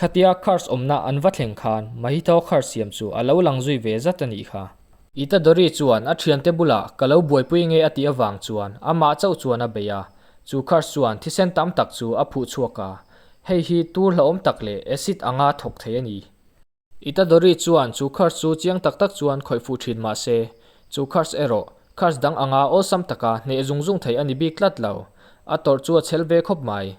Khatia Kharz awmna an va thleng khan Mahithau Kharz siam chu a lo lang zui ve zat a nih kha. I ta Dori chuan a thiante bulah ka lo buaipui nge a tih avang chuan amah chauh chuan a bei a, chu Kharz chuan thisen tam tak chu a phuh chhuak a, hei hi tur hlauhawm tak leh acid anga thawk thei a ni. Itadori chuan chu curse chu chiang tak tak chuan khawih fuh thin mah se, chu curse erawh curse dang anga awlsam taka hneh zung zung thei a ni bik tlat lo. A tawrh chu a chhel ve khawp mai.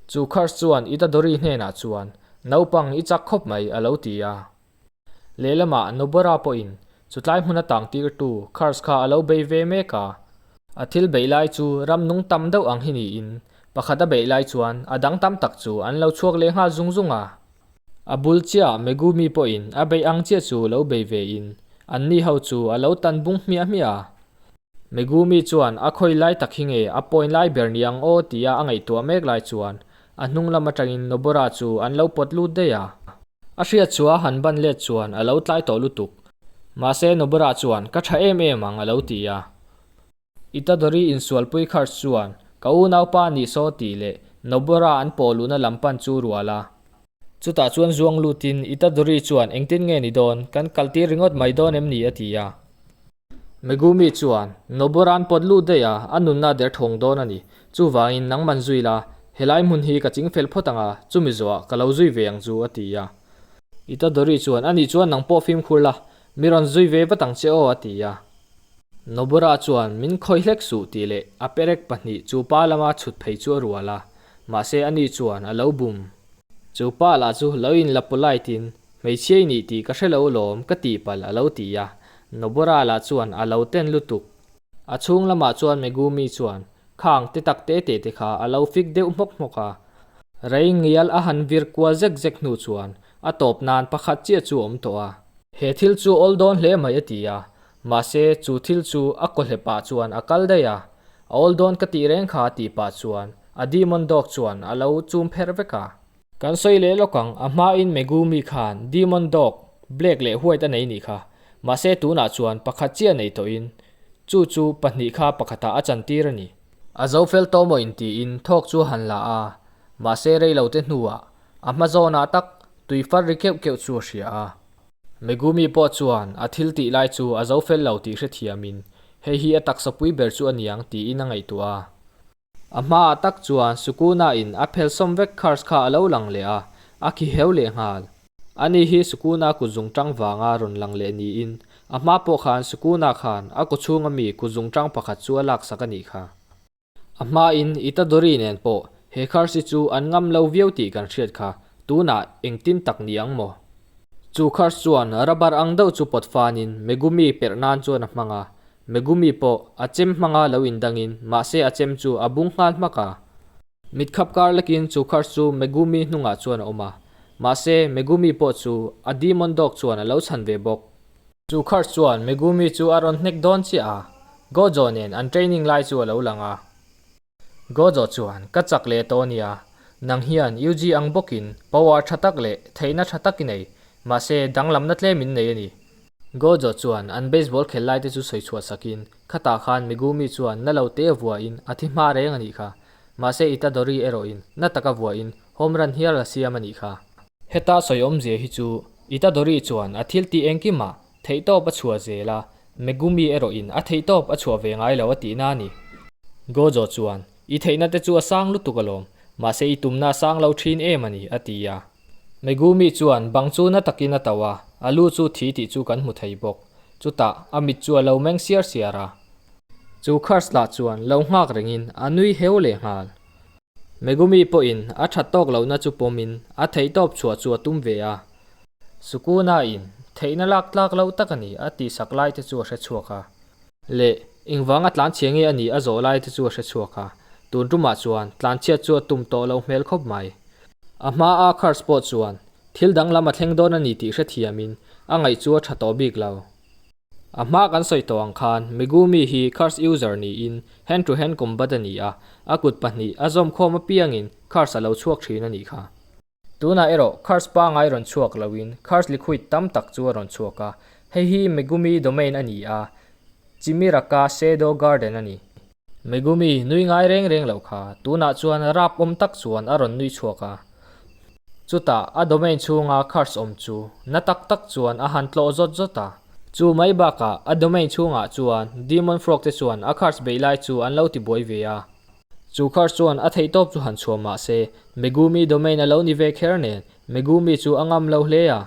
Chu curse chuan Itadori hnenah chuan, Naupang, i chak khawp mai, a lo ti a. Lehlamah Nobara pawhin chutlai hmuna tangtirtu curse kha a lo bei ve mek a. A thil beih lai chu ramnung tam deuh ang hi niin pakhat a beih lai chuan a dang tam tak chu an lo chhuak lehnghal zung zung a. A bul chiah Megumi pawhin a beih ang chiah chu lo bei ve in an ni ho chu a lo tan bung hmiah hmiah a. Megumi chuan a khawi lai tak hi nge a point lai ber ni ang aw tia a ngaihtuah mek lai chuan a hnung lam atangin Nobora chu an lo pawt lut daih a. A hriatchua han ban let chuan a lo tlai tawh lutuk. Mahse Nobora chuan ka tha em em ang a lo ti a. I Tadori insualpui kharh chuan ka unaupa ni saw tih leh Nobora an pawh luhna lam pan chu rual a. Chutah chuan zuang lutin I Tadori chuan engtin nge ni dawn, kan kaltir ringawt mai dawn em ni? a ti a. Megumi chuan Nobora'n pawt lut daih a, a nunna derthawng dawn a ni. Chuvangin nang man zui la, helai hmun hi ka ching fel phawt ang a, chumi zawhah ka lo zui ve ang chu, a ti a. I Tadori chuan ani chuan nang pawh fimkhur la, Mi rawn zui ve vat ang che aw a ti a. Nobura chuan min khawi hlek suh tih leh a perek pahnih chu pa lama chhut phei chu a rual a, mahse ani chuan a lo bum. Chu pa lah chu lo in la polite in hmeichhia i nih tih ka hre lo alawm ka tih palh a lo ti a, Nobura lah chuan a lo ten lutuk. A chhung lamah chuan Megumi chuan khang te tak te te te kha a lo fik deuh hmawk hmawk a. Rei ngial a han vir kual zek zek hnu chuan a tawp nan pakhat chiah chu awm tawh a. He thil chu awl dawn hle mai a ti a, mahse chu thil chu a kawhlep ah chuan a kal daih a. A awl dawn ka tih reng kha a tih pah chuan a Demon Dog chuan a lo chum pherh vek a. Kan sawi leh lawk ang, a hmain Megumi khan Demon Dog, Black leh White a nei nih kha. Mahse tunah chuan pakhat chiah nei tawhin chu chu pahnih kha pakhatah a chantir a ni. A zo fel tawh maw intiin thawk chu a han la a, mahse reilote hnuah a hma zawnah tak tui far ri keuh keuh chu a hria a. Megumi pawh chuan a thil tih lai chu a zo fel lo tih hrethiamin, Hei hi a taksa pui ber chu a niang tiin a ngaihtuah a. A hma ah tak chuan Sukuna in a phel sawm vek curse kha a lo lang leh a, a khi heu leh nghal. Ani hi Sukuna kut zung ṭang vanga rawn lang leh niin, a hma pawh khan Sukuna khan a kawchhung a mi kut zung ṭang pakhat chu a laksak a nih kha. A hma in Itadori nen pawh he curse-i chu an ngam lo viau tih kan hriat kha, Tunah engtin tak ni ang maw? Chu Kars chuan Rabar ang deuh chu pawt fanin Megumi perh nan chuan a hmang a, Megumi pawh a chem hmanga lo indangin mahse a chem chu a bung nghal hmak a. Mit khap kar lekin chu Kars chu Megumi hnungah chuan a awm a, mahse Megumi pawh chu a Demon Dog chuan a lo chhan ve bawk. Chu Kars chuan Megumi chu a rawn hnek dawn chiah a, Gojo nen an training lai chu a lo lang a, Gojo chuan, Ka chak leh tawh nia, nang hian UG ang bawkin power tha tak leh theihna tha tak i nei, mahse danglamna tlem min nei a ni. Gojo chuan an baseball khel lai te chu sawi chhuah sak in, Khatah khan Megumi chuan na lo te vua in a thi hma reng a nih kha, mahse Itadori erawh in na taka vua in home run hial a siam a nih kha. Heta sawiawmzia hi chu Itadori chuan a thiltih engkim a Theihtawp a chhuah zel a, Megumi erawhin a theihtawp a chhuah ve ngai lo a tihna a ni. Gojo chuan, I theihna te chu a sang lutuk alawm, mahse i tumna a sang lo thin em a ni, a ti a. Megumi chuan bang chu na takin a to a, a lu chu thi tih chu kan hmu thei bawk. Chutah, a mit chu a lo meng siar siar a. Chu Kars lah chuan lo nghak rengin a nui heu leh nghal. Megumi pawhin a that tawk lohna chu pawmin a theihtawp chhuah chu a tum ve a. Sukunain, Theihna lak tlak lo tak a ni a tih sak lai te chu a hre chhuak a. Leh, Engvanga tlanchhia nge a nih a zawh lai te chu a hre chhuak a. Tun tumah chuan, tlanchhiat chu a tum tawh lo hmel khawp mai. A hmaa Kurtz pawh chuan, thil danglam a thleng dawn a ni tih hrethiamin, a ngaih chu a tha tawh bik lo. A hma kan sawi tawh ang khan, Megumi hi Curse user niin Hand to Hand Combat a ni a, a kut pahnih a zawm khawm apiangin Curse a lo chhuak thin a nih kha. Tunah erawh Curse pangai rawn chhuak lohin Curse liquid tam tak chu a rawn chhuak a, hei hi Megumi domain a ni a, Chimiraka Shadow Garden a ni. Megumi nui ngai reng reng loh kha, tunah chuan rap awm tak chuan a rawn nui chhuak a. Chutah a domain chhunga curse awm chu na tak tak chuan a han tlawh zawt zawt a. Chu mai bakah a domain chhungah chuan Demon Frog te chuan a curse beih lai chu an lo ti buai ve a. Chu curse chuan a theih tawp chu han chhuah mah se, Megumi domain a lo ni ve kher nen, Megumi chu a ngam lo hle a.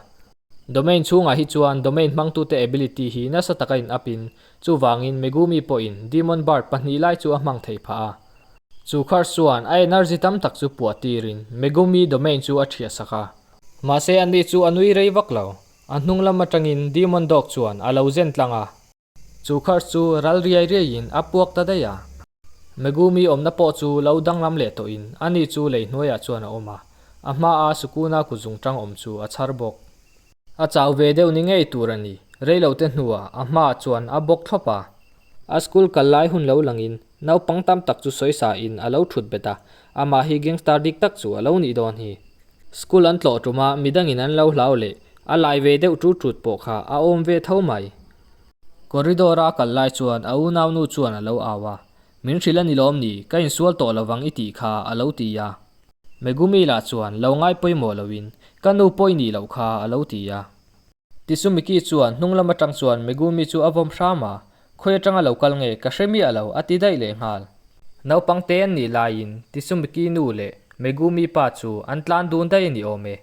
Domain chhungah hi chuan domain hmangtute ability hi nasa taka in up in Chuvangin Megumi pawhin Demon Bard pahnih lai chu a hmang thei phah a. Chu khar chuan a energy tam tak chu puah tirin Megumi domain chu a ṭhiah sak a. Mahse anni chu a nui rei vak lo. A hnunglam aṭangin Demon Dog chuan a lo zen tlang a. Chu khar chu ral riai riaiin a puak ta daih a. Megumi awmna pawh chu lo danglam leh tawhin ani chu lei hnuaiah chuan a awm a. A hmaa Sukuna kut zungṭang awm chu a chhar bawk. A chau ve deuh ni ngei tur a ni. Reilote hnuah a hma chuan a bawk thlawp a. A school kal lai hun lo langin naupang tam tak chu sawi sa in a lo thut bet a, amah hi gangstar dik tak chu a lo nih dawn hi. School an tlawh tum a midang in an lo hlau leh a lai ve deuh ṭut ṭut pawh kha a awm ve tho mai. Corridor a kal lai chuan a unau nu chuan a lo au a, Min hrilh a ni lawm ni, ka insual tawh lo vang i tih kha a lo ti a. Megumi lah chuan lo ngai pawimawh loin, Ka nu pawi ni loh kha, a lo ti a. Ti chu Miki chuan hnung lam atang chuan Megumi chu a vawm hram a, Khawi atanga lo kal nge, ka hre miah lo, a ti daih leh nghal. Naupangte an nih laiin Ti chu Miki nu leh Megumi pa chu an tlan dun daih a ni awm e.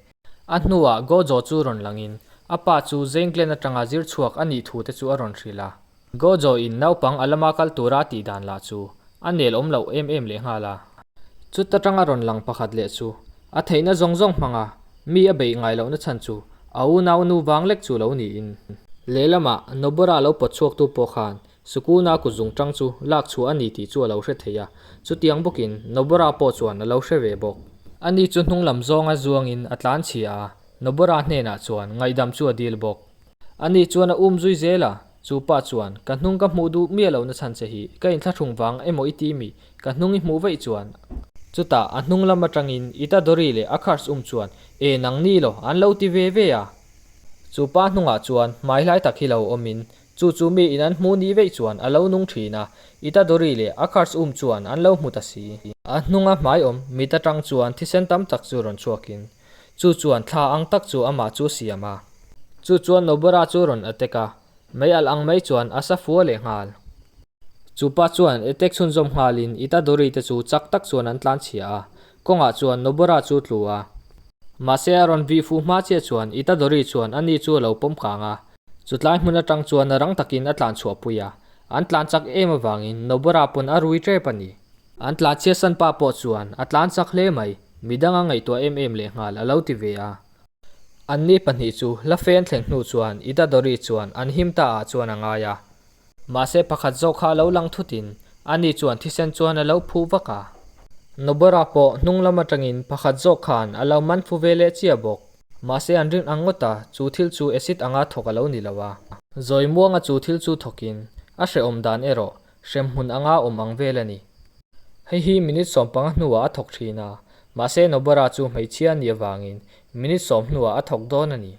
A hnuah Gojo chu rawn langin a pa chu zengtlen atanga zir chhuak a nih thu te chu a rawn hrilh a. Gojo in naupang a lama kal tura tih dan lah chu a nel awm loh em em leh nghal a. Chuta tanga rawn lang pakhat leh chu a theihna zawng zawng hmanga mi a beih ngai lohna chhan chu a unau nu vang lek chu lo niin. Lehlamah Nobora lo pawt chhuaktu pawh khan Sukuna kut zung tang chu lak chhuah a ni tih chu a lo hre thei a. Chutiang bawkin Nobora pawh chuan a lo hre ve bawk. Ani chu hnunglam zawnga zuangin a tlan chhia a, Nobora hnenah chuan ngaihdam chu a dil bawk. A ni chuan a um zui zel a, chu pa chuan, Ka hnung ka hmuh duh miah lo na chhan che hi, ka in thlahrung vang emaw i ti mi? Ka hnung i hmuh vaih chuan. Chutah a hnung lam atangin i ta Dory leh a Kars um chuan, Eh nang ni lo, an lo ti ve ve a. Chu pa hnungah chuan, Hmaihlai tak hi lo awmin, chu chu mi in an hmu ni veih chuan a lo nung thin a, i ta Dory leh a Kars um chuan an lo hmu ta si. A hnunga hmaiawm mit atang chuan thisen tam tak chu rawn chhuakin, Chu chuan thla ang tak chu amah chu siam a. Chu chuan Nobera chu rawn attack a, mei alh ang mai chuan a sa fual leh nghal. Chupa chuan attack chhunzawm nghalin Itadori te chu chak tak chuan an tlan chhia a, kawngah chuan Nobera chu tlu a. Mahse a rawn vih fuh hma chiah chuan Itadori chuan a ni chu a lo pawm kang a, chutlai hmun atang chuan rang takin a tlan chhuah pui a, an tlan chak em avangin Nobera pawn a rui tep a ni. An tlan chhiasan pa pawh chuan a tlan chak hle mai. Midanga ngaihtuah em em leh nghal a lo ti ve a. An ni pahnih chu la fen thleng hnu chuan Itadori chuan an him ta ah chuan a ngai a. Mahse pakhat zawk kha a lo lang thut in a ni chuan thisen chuan a lo phuh vak a. Nobara pawh hnung lam atangin pakhat zawk khan a lo man fu ve leh chiah bawk. Mahse an rin ang ngawt a, chu thil chu acid anga thawk a lo ni lo a. Zawimuanga chu thil chu thawk in a hrehawm dan erawh Hremhmun anga awm ang vel a ni. Hei hi minute sawm panga hnuah a thawk thin a, mahse Nobara chu hmeichhia a nih avangin minute sawm hnuah a thawk dawn a ni.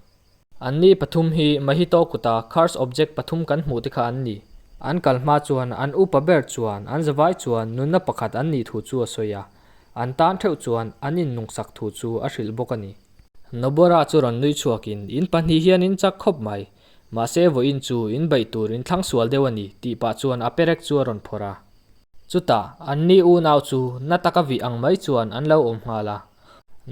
An ni pathum hi Mahito kuta cursed object pathum kan hmuhte kha an ni. An kal hma chuan an upa ber chuan an zavai chuan nunna pakhat an nih thu chu a sawi a, an tan theuh chuan an innungsak thu chu a hrilh bawk a ni. Nobara chu rawn nui chhuakin in pahnih hian in chak khawp mai. Mahse vawiin chu in baih tur in thlang sual deuh a ni tih pah chuan a perek chu a rawn phawrh a. Chutah an ni unau chu na taka vih ang mai chuan an lo awm nghal a.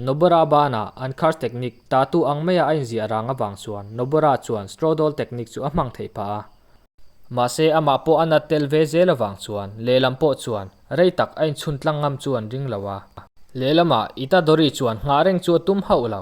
Nobora bana an khar technique ta tu ang maia a inziah rang avang chuan Nobora chuan straw doll technique chu a hmang theih phah a. Mahse amah pawh a nat tel ve zel avang chuan lehlam pawh chuan rei tak a inchhuntlang ngam chu an ring lo a. Lehlamah Itadori chuan nghah reng chu a tum hauh lo.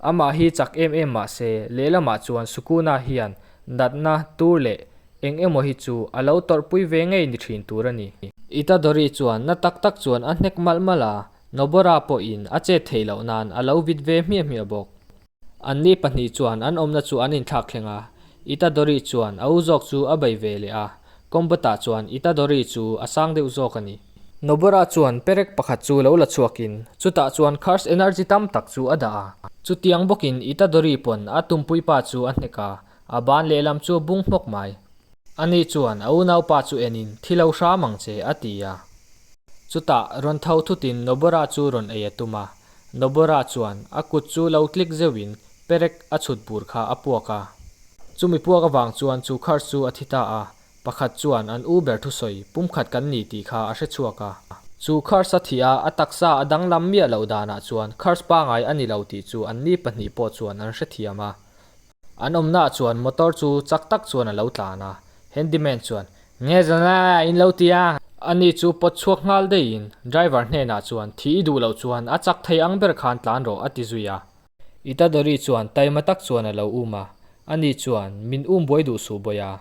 Amah hi chak em em mahse, lehlamah chuan Sukuna hian natna tur leh eng emaw hi chu a lo tawrh pui ve ngei ni thin tur a ni. Itadori chuan na tak tak chuan a hnek malh malh a, Nobora pawhin a chet theih loh nan a lo vit ve hmiah hmiah bawk. Anni pahnih chuan an awmna chu an inthlak thleng a, Itadori chuan a u zawk chu a bei ve leh a, Kombata chuan Itadori chu a sang deuh zawk a ni. Nobara chuan perek pakhat chu lo la chhuakin chutah chuan Curse Energy tam tak chu a dah a, chutiang bawkin Itadori pawn a tumpui pa chu a hnek a, a ban lehlam chu a bung hmawk mai. Ani chuan a unaupa chu enin thi lo hram ang che a ti a, chutah rawn tho thutin Nobara chu rawn ei a tum a, Nobora chuan a kut chu lo tlik zeuh in perek a chhut bur kha a puak a. Chumi puak avang chuan chu car chu a thi ta a, pakhat chuan an u ber thusawi pumkhat kan ni tih kha a hre chhuak a. Chu cars a thi a, a taksa a danglam miah loh dan ah chuan cars pangai a ni lo tih chu an mi pahnih pawh chuan an hre thiam a. An awmnaah chuan motor chu chak tak chuan a lo tlan a, handyman chuan, Nge zana in lo ti a? A ni chu pawt chhuak nghal deihin driver hnenah chuan, Thih i duh loh chuan a chak thei ang ber khan tlan rawh, a ti zui a. Itadori chuan taima tak chuan a lo um a, a ni chuan, Min um buai duh suh bawih a,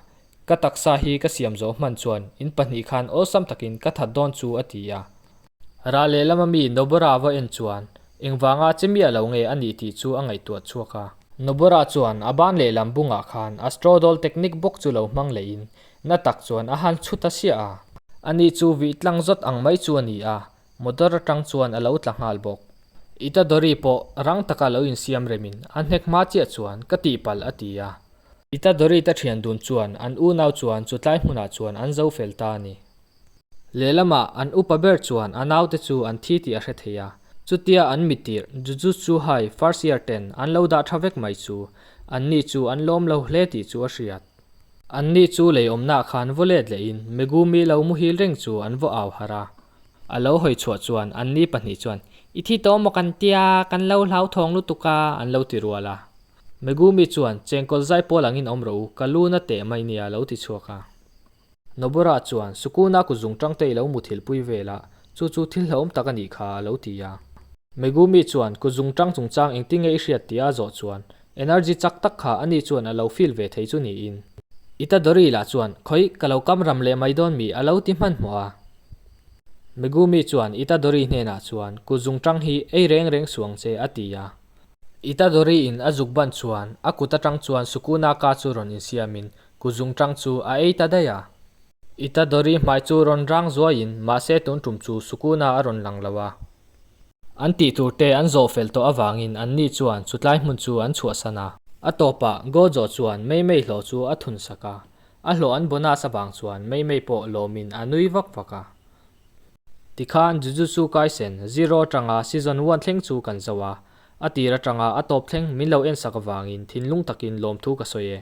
Ka taksa hi ka siam zawh hman chuan in pahnih khan awlsam takin ka that dawn chu a ti a. Rah lehlam ami Noborava en chuan engvanga che mi a lo nge a nih tih chu a ngaihtuah chhuak a. Nobora chuan a ban lehlam bungah khan a straddle technique bawk chu lo hmang leiin na tak chuan a han chhut a sia a. Ani chu vih tlang zawt ang mai chu a ni a, Motor atang chuan a lo tla nghal bawk. Itadori pawh rang taka lo insiam remin a hnek hma chiah chuan ka tihpalh a ti a. Itadori ta thian dun chuan an unau chuan chutlai hmunah chuan an zo fel ta a ni. Lehlamah an upa ber chuan a naute chu an thi tih a hre thei a. Chutia an mitirh Jujutsu High first year ten an lo dah tha vek mai chu anni chu an lawm lo hle tih chu a hriat. Anni chu lei awmnah khan vaw let lehin Megumi lo muhil reng chu an vaw au harh a. A lo hawi chhuah chuan an ni pahnih chuan, I thi tawh maw kan tia, kan lo hlauthawng lutuk a, an lo ti rual a. Megumi chuan, Chengkawl zai pawl angin awm rawh u, ka lu na teh mai nia, a lo ti chhuak a. Nobura chuan, Sukuna ku zungṭang te i lo muthilh pui vel a, chu chu thil hlauhawm tak a nih kha, a lo ti a. Megumi chuan, Ku zungṭang chungchang engtinnge i hriat tih a zawh chuan, Energy chak tak kha ani chuan alo feel ve thei chu niin. I ta Dory lah chuan khawi ka lo kam ram leh mai dawn mi alo ti hman hmawh a. Megumi chuan i ta Dory hnenah chuan kut zung tang hi ei reng reng suang che a ti a. I ta Dory in a zuk banh chuan a kut atang chuan Sukuna ka chu rawn insiam in kut zung tang chu a ei ta daih a. I ta Dory hmai chu rawn rang zuai in mahse tun tum chu Sukuna a rawn lang lo a. An tih tur te an zawh fel tawh avangin an ni chuan chutlai hmun chu an chhuahsan a. A tawpah, Gojo chuan Meimei hlawh chu a thun sak a, a hlawh an bonus avang chuan Meimei pawh lawmin a nui vak vak a. Tikhan Jujutsu Kaisen, Zero atanga Season one thleng chu kan zoh a, a tir atanga a tawp thleng min lo en sak avangin thinlung takin lawmthu ka sawi e.